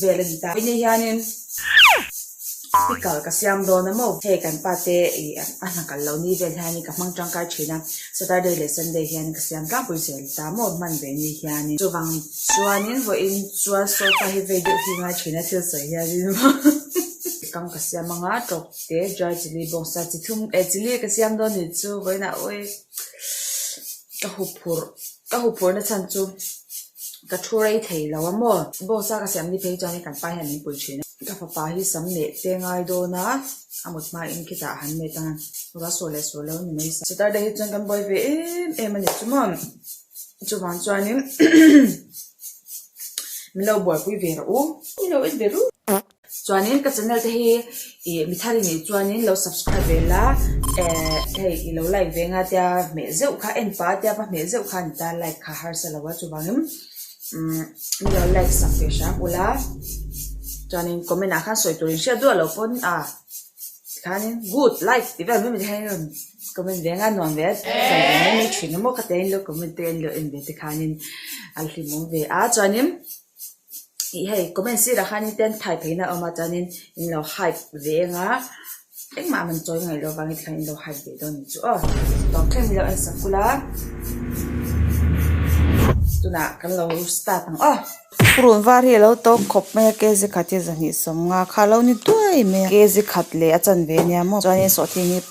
Vel a ni ta. Inne hianin speaker ka siam dawn a maw. Hei kan pa te ih a hna kal lo ni vel hianin ka hmang tangkai thin a, Saturday leh Sunday hianin ka siam tlangpui zel ta maw hman ve ni hianin. Chuvang chuanin vawiin chuan sofa hi vei deuh hi ngai thin a thil sawi hianin. Kang ka siam a nga tlawk te dry chilli bawk sa chi thum eh chilli ka siam dawn ni chu vawiin a awii ka huphurh. Ka huphurna chhan chu ka thu rei thei lo a maw? Boss a ka siam ni phei chuan i kan pa hian min pui thin a. Ka fapa hi sam neh te ngai dawn a, a mut hmain khitah han met a, ruah sur leh sur lo ni mai sa. Saturday hi chuan kan buai ve em em a ni chu maw? Chuvang chuanin min lo buaipui ve rawh u. I lo en ve ru. Chuanin ka channel te hi ih mi thar inih chuanin lo subscribe ve la ehh hei i lo like ve nga tia hmeh zeuh kha en pa tia va hmeh zeuh kha ani ta like kha harsa lo a chuvangin umm ni lo like sak ve hrang ula chuanin comment ah khan sawi tur in hriat duah lo pawn a tikhanin good like tih vel mai mawni kha in rawn comment ve nga nuam ve sawi ve mai mai thin a maw khatiang in lo comment te an lo en ve tikhanin a hlimawm ve a chuanin. Hei comment sirah khan in ten phai pheina awm a chuanin in lo hide ve eng a engmah man chawi ngaih loh avangin tikhan in lo hide ve dawn chu aw tawng thleng nilo en sak kul a tunah kan lo start ang aw purun var hi a lo tawng khawp mai a kzi khat hi zahnih sawm nga kha a lo ni duai mai a kzi khat leh a chanve nia maw chuanin sawhthing hi--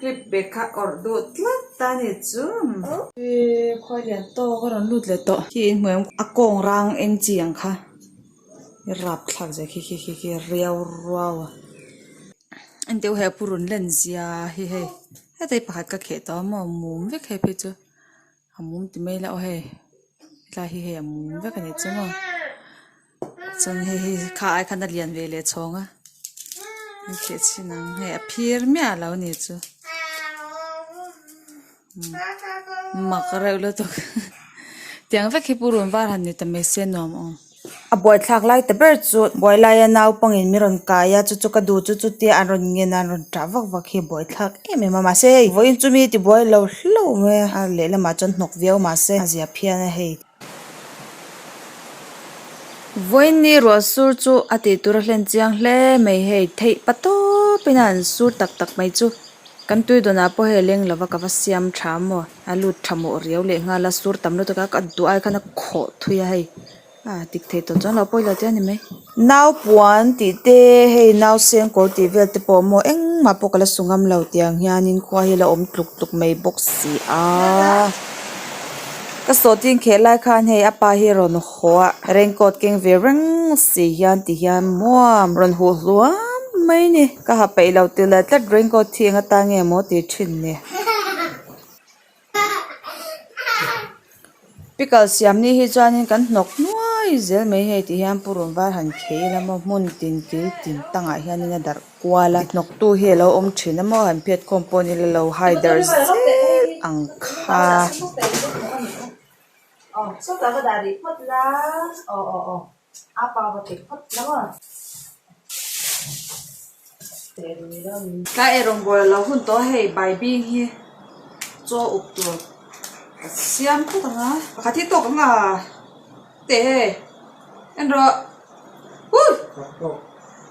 clip bag kha awrh duh tlat ta ni chum. Hi khuai lian tawk a rawn lut leh tawh khi in hmuiawm kha a kawng rang eng chi ang kha i rap thlak zia khi khi khi khi riau ruau a en deuh hi a pu run len zia hi hei hetei pakhat ka kheh tawh a maw mum vek he phei chu. A mum ti mai la aw hei hetlai hi hei a mum vek a ni chuang aw chuan hei hi kha ai khan a lian ve leh chhawng a an kheh chin ang hei a phir miah a lo ni chu mak reuh lutuk tiang vek hi pu runvar han ni ta mai se nuam aw. a buaithlak lai ta ber chu buailaia naupangin min rawn kaia chu chu ka duh chu chutia an rawn nghenah an rawn tah vak vak hi a buaithlak em em a mahse hei vawiin chu mi tibuai lo hlauh mai a a lehlamah chuan hnawk viau mahse a ziah phian a hei vawiini ruah sur chu a tih tura hlen chiang hle mai hei theih pa tawpin a an sur tak tak mai chu kan tui dawnah pawh hei a leng lova ka va siam tha maw. A lut tha mawh riau leh nghal a, sur tam lutuk a, ka duh ai khan a khawh thui a hei. A dik thei tawh chuan lo pawi lo tia ni mai. Naupuan tih te, hei nauseng kawr tih vel te pawh maw engmah pawh ka la su ngam lo tiang hianin khua hi a la awm tluk tluk mai bawk si a. Ka sawtin kheh lai khan hei a pa hi rawn haw a, raincoat keng ve reng si hian ti hian muam rawn huh hluam mai ni. Ka ha peih lo ti lai tlat raincoat hi eng atan nge maw ti thin ni. pickle siam ni hi chuan kan hnawk nuai zel mai hei tih hian pu rawnvar han khei a la maw hmun tin kil tin tang ah hian a darh kual a hnawk tu hi a lo awm thin a maw han phet khawm pawh a ni lo hai dar zet ang kha. Tlai e rawngbawl a lo hun tawh hei baibing hi chaw uk tur a siam phawt ang a pakhat hi tawk ang a teh e en rawh hu!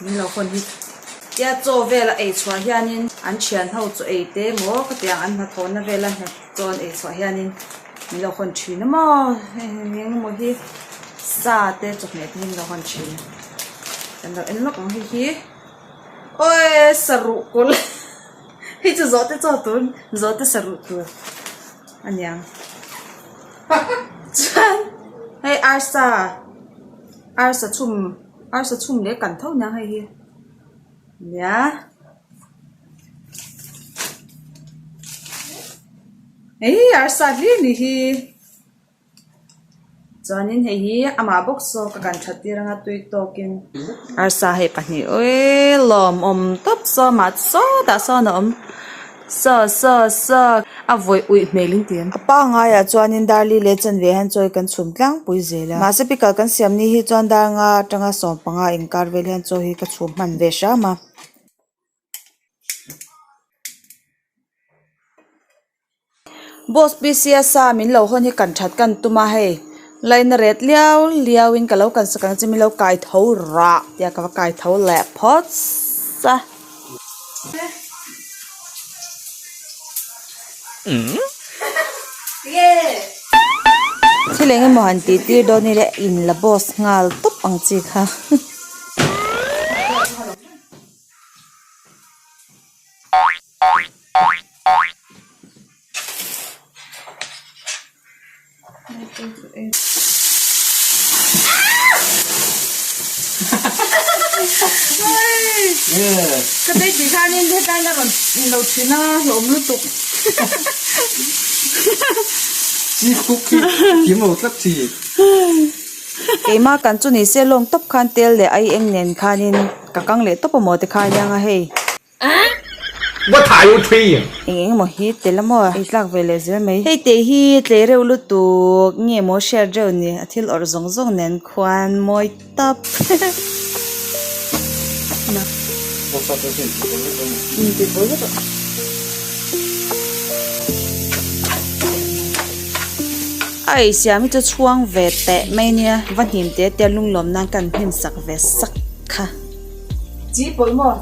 Min lo hawn hi. Tia chaw vel a ei chhuah hianin an thian ho chu ei te maw ka tiang an hna thawhna vel a hna chaw an ei chhuah hianin min lo hawn thin a maw eng eng maw hi sa te chawhmeh te hi min lo hawn thin a kan lo en lawk ang hei hi awi saruh kawl hei chu zawh te chaw tun zawh te saruh tur a niang chuan hei arsa arsa chhum Arsa chhung leh kan tho nia hei hi nia Hei arsa hlîr ni hi Chuanin hei hi amah bawk saw ka kan that tir anga tui tawkin Arsa hei pahnih êêl lâwm awm tawp saw mah chu sâwtah sâwn a awm. Sir, sir, sir! a vawih uih hmel in ti an. A pangaiah chuanin Darli leh Chanve han chawi kan chhum tlangpui zel a. Mahse pikal kan siam ni hi chuan dar nga atanga sawm panga inkar vel hian chaw hi ka chhum hman ve hram a. Boss Pisiya sa min lo hawn hi kan that kan tum a hei. Laina ret liau liau in ka lo kan sak ang che min lo kai tho rah tia ka va kai tho leh phawts a. Thil eng emaw han tih tir dawn nile in la boss nghal tawp ang chi kha. Keimah kan chu ni se lawm tawp khan tel leh ai eng nen khanin ka kang leh tawp amaw te kha a nia ang a hei. What are you trying? Eng eng emaw hi tel a maw a? Ei tlak ve leh zel mai. Hei teh hi tlei reuh lutuk nge maw hriat reuh ni a thil awrh zawng zawng nen khuan mawi tap Ai siam hi chu chhuang ve teh mai nia va hnim te tia lunglawm nan ka an hnim sak ve sak kha. Chih pawlh maw?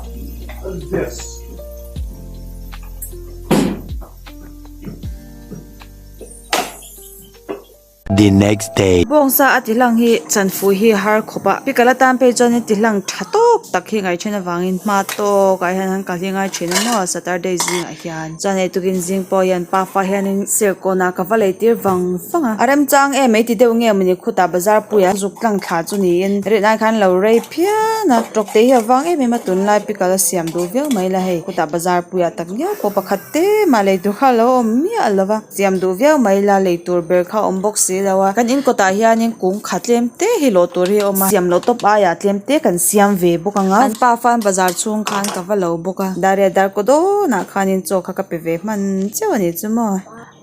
The next day. Bawngsa a tihlang hi chanfui hi a har khawp a. Pikal atan pei chuan tihlang tha tawk tak hi ngaithin avangin hma tawkah hian han kalhingai thin a maw a Saturday zingah hian. hian. Chuan ei tukin zing pawh hian pa fa hianin serkawnah ka va lei tir vang vang a. A remchang em ei ti deuh nge mawni khutah bazar puiah zuk tlang thla chu niin rilh nan khan lo rei phian a, tawkte hi a vang em em a tunlai pickle a siam duh viau mai la hei khutah bazar puiah tak viau pawh pakhat te mah lei tur kha a lo awm miah lo va. siam duh viau mai ila lei tur ber kha awm bawk si lo a kan in kawtah hian in kung kha tlem te hi lawh tur hi a awm a siam loh tawp aiah tlem te kan siam ve bawk ang a an pa fan bazar chhung khan ka va lo bawk a dar leh dar kaw dawn ah khan in chaw kha ka pe ve hman chiah a ni chu maw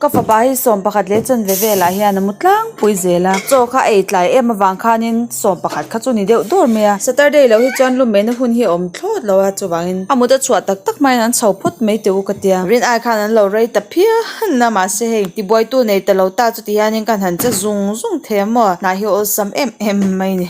ka fapa hi sawm pakhat leh chawn ve velah hian a mu tlangpui zel a chaw kha a ei tlai em avang khan in-- sawm pakhat kha chu ni deuh dur mai a Saturday loh hi chuan lu mehna hun hi a awm thlawt lo a chuvangin a mut a chhuah tak tak mai in an chho phawt mai teh u ka tia rin ai khan an lo rei ta phian a mahse hei ti buai tu nei ta lo ta chuti hianin ka han che zung zung thei a maw hnah hi awlsam em em mai ni.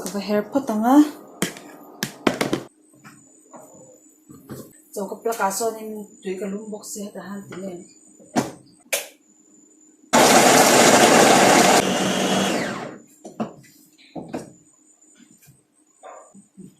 Ka va her phawt ang a. Chaw ka plug ah chuanin tui ka lum bawk se hetah han ti nen.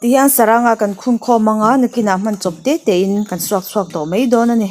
Ti hian saranga kan khun khawm ang a nakinah hman chawp te te in kan suak chhuak tawh mai dawn a ni.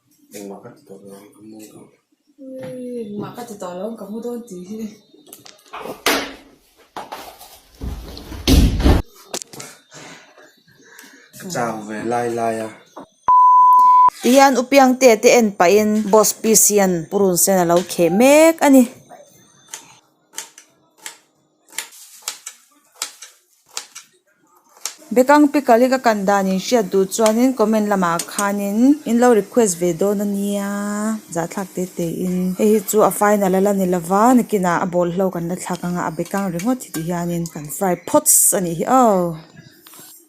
hian u piangte te en paih in boss piece hian purun sen a lo kheh mek a ni. Bekang Picalic a kan dan inhriat duh chuanin comment lamah khanin in lo request ve dawn a nia zahthlak te te in hei hi chu a final a la ni lova nakinah a ball hlauh kan la thlak anga a bekang ringawt hi ti hianin kan fry phawts a nih hi aw.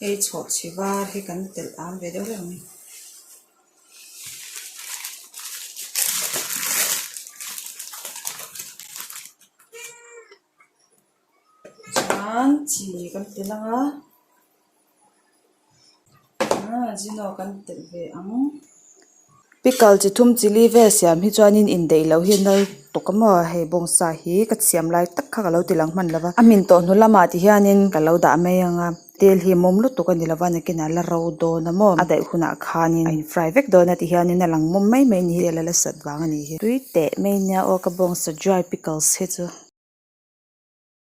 hei chhawh chhi var hi kan telh ang ve deuh deuh mai chuan chi kan ti langa ahh zino kan telh ve ang. pickle chi thum chilli vel siam hi chuanin indaih loh hi a nal tawh ka maw hei bawngsa hi ka siam lai tak kha ka lo ti lang hman lo va a hmin tawh hnu lamah ti hianin ka lo dah mai ang a tel hi a mawm lutuk tak a ni lo va nakinah la ro dawn a maw a daih hunah khanin a in fry vek dawn a ti hianin a lang mawm mai mai a ni hi tel a la sat vang a ni hi tui teh mai nia aw ka bawngsa dry pickles hi chu.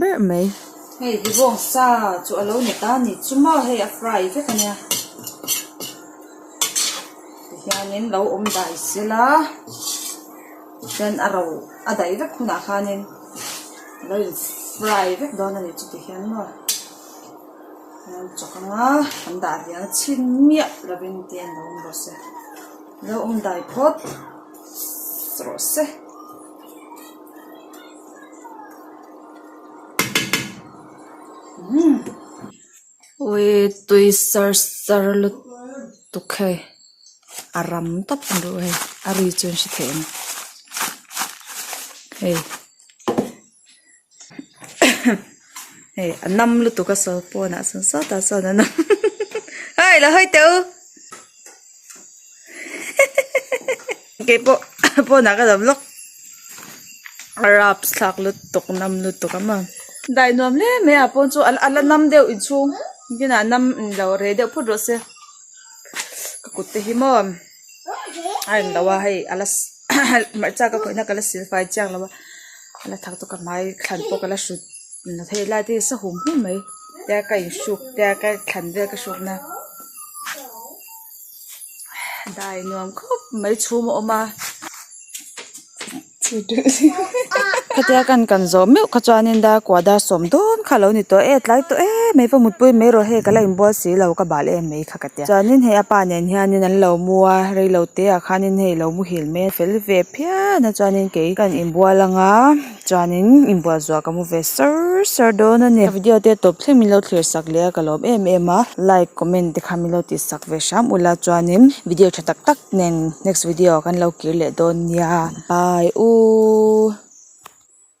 ber mai. Hei Divawng sa chu a lo ni ta ni chu maw hei a fry vek a nia tihianin lo awm dai sel a chuan a ro a daih vek hunah khanin a lo in fry vek dawn a nih chu tihian maw chuan chawk anga kan dah lian a chhin miah lovin te an lo awm rawh se lo awm dai phawt rawh se. Ui tui sar sar lutuk hei a ram tap ang deuh hei a ri chu an hre thei ang hei hei a nam lutuk a sawi pawnah chuan sawtah chuan a nawm hei la hawi teh u. Keipawh pawnah ka dam lawk. Raps thlak lutuk nam lutuk ama. Dai nuam hle mai ah pawh chu a la nam deuh inchhung inah nam inlo rei deuh phut rawh se. Ka kut te hi maw a eng lo a hei a la hmarcha ka khawihna ka la sil fai chiang lo va. A la thak chu ka hmai thlan pawh ka la hrut la thei lai te hi sahum hlim mai. Tia ka in hruk tia ka thlan vel ka hrukna. dai nuam khawp mai chhum a awm a khatiang a kan kan zawh meuh kha chuan in da kuahda sawm dawn kha a lo ni tawh e tlai tawh e mai pawh mutpui mai erawh hei ka la inbual si lo ka bal em mai kha ka tia chuan in hei apa nen hian in an lo mu a rei lo te ah khan in hei lo mu hil mai a fel ve phian a chuan in kei ka han inbual ang a. chuanin in buatzuah ka hmu ve sar sar dawn a ni a video te tawp thleng min lo thlir sak leh a ka lawm em em a like comment te khan min lo tih sak ve hram ula chuanin video tha tak tak nen next video ah ka lo kir leh dawn nia bye u.